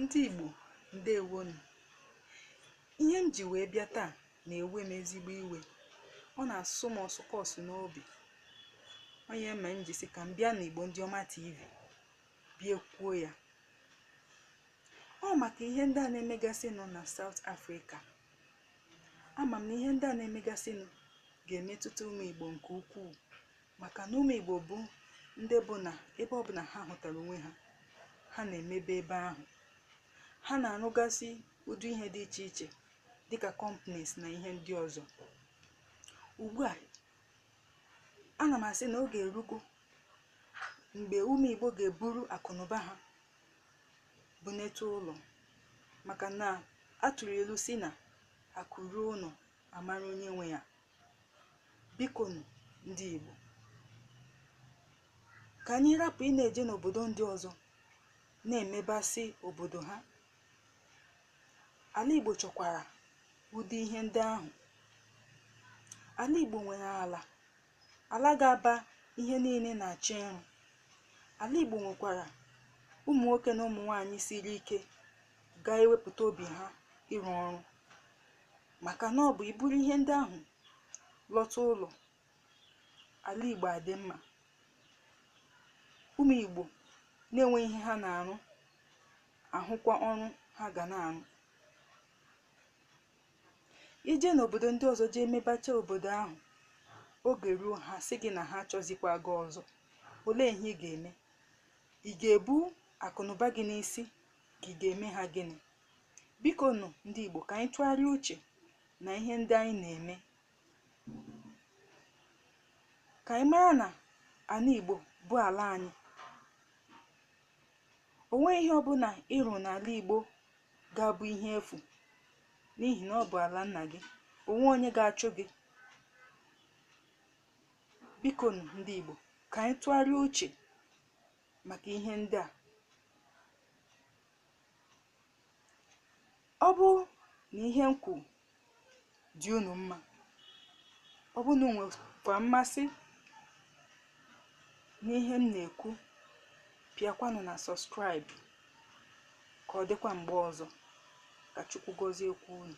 ndị Igbo ndewo nụ ihe m ji wee bịa taa na-ewe m ezigbo iwe ọ na-asụ m ọsụkọsụ n'obi ọ ya mere m ji sị ka m bịa n'Igbo ndị ọma TV bịa kwuo ya ọ maka ihe ndị a na-emegasịnụ na South Africa ama m na ihe ndị a na-emegasịnụ ga-emetụta ụmụ Igbo nke ukwuu maka na ụmụ Igbo bụ ndị bụ na ebe ọbụla ha hụtara onwe ha ha na-emebe ebe ahụ ha na-arụgasị ụdị ihe dị iche iche dịka companies na ihe ndị ọzọ ugbu a ana m asị na oge erugo mgbe ụmụ Igbo ga-eburu akụnụba ha bunete ụlọ maka na a tụrụ ilu sị na akụ ruo ụlọ a mara onye nwe ya biko nụ ndị Igbo ka anyị rapụ ịna-eje n'obodo ndị ọzọ na-emebasị obodo ha ala Igbo chọkwara ụdị ihe ndị ahụ ala Igbo nwere ala ala ga-aba ihe niile na-achọ ịrụ ala Igbo nwekwara ụmụ nwoke na ụmụ nwaanyị siri ike ga-ewepụta obi ha ịrụ ọrụ maka na ọ bụ i buru ihe ndị ahụ lọta ụlọ ala igbo adị mma ụmụ igbo na-enwe ihe ha na-arụ ahụkwa ọrụ ha ga na-arụ i jee n'obodo ndị ọzọ jee mebacha obodo ahụ oge ruo ha sị gị na ha achọzikwa gị ọzọ olee ihe ị ga-eme ị ga-ebu akụnụba gị n'isi ka ị ga-eme ha gịnị biko nụ ndị Igbo ka anyị tụgharịa uche na ihe ndị anyị na-eme ka anyị mara na ala Igbo bụ ala anyị o nweghị ihe ọbụla ị rụ n'ala Igbo ga-abụ ihe efu n'ihi na ọ bụ ala nna gị o nweghị onye ga-achụ gị biko nụ ndị Igbo ka anyị tụgharịa uche maka ihe ndị a ọ bụ na ihe m kwuru dị unu mma ọ bụrụ na unu nwekwa mmasị n'ihe m na-ekwu pịakwanụ na subscribe ka ọ dịkwa mgbe ọzọ ka chukwu gọziekwa unu